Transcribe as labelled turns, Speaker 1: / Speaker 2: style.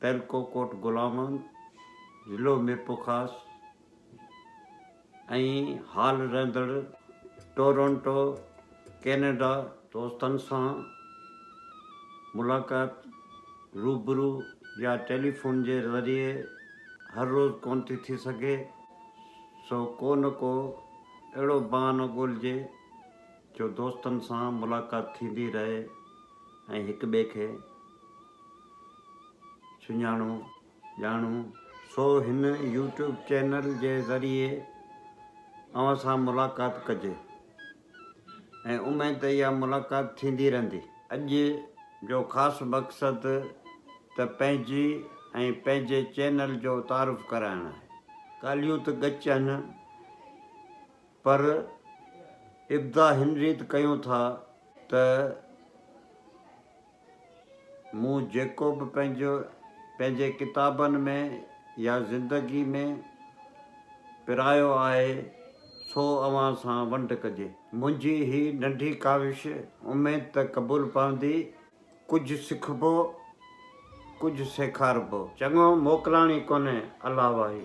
Speaker 1: تعلقو ڪوٽ غلام محمد، ضلعو ميرپورخاص ۽ حال رهندڙ ٽورنٽو، ڪينيڊا. دوستن سان ملاقات روبرو يا ٽيليفون جي ذريعي هر روز ڪونه ٿي ٿي سگهي، سو ڪو نه ڪو اهڙو بهانو ڳولهجي، جو دوستن سان ملاقات ٿيندي رهي ۽ هڪ ٻئي کي سڃاڻو ڄاڻون. سو هن يوٽيوب چينل جي ذريعي اوهان سان ملاقات ڪجي ۽ اميد ته اها ملاقات ٿيندي رهندي. اڄ جو خاص مقصد ته پنهنجي ۽ پنهنجي چينل جو تعارف ڪرائڻ آهي. ڳالهيون ته ڳچ هن. پر ابدا هن ريت ڪيون ٿا ته مون جيڪو به پنهنجي ڪتابن ۾ يا زندگي ۾ پرايو آهي سو اوهان سان ونڊ ڪجي. منهنجي هي ننڍي ڪاوش اميد ته قبول پوندي، ڪجهه سکبو ڪجهه سيکاربو. چڱو موڪلاڻي ڪونهي الله واهي.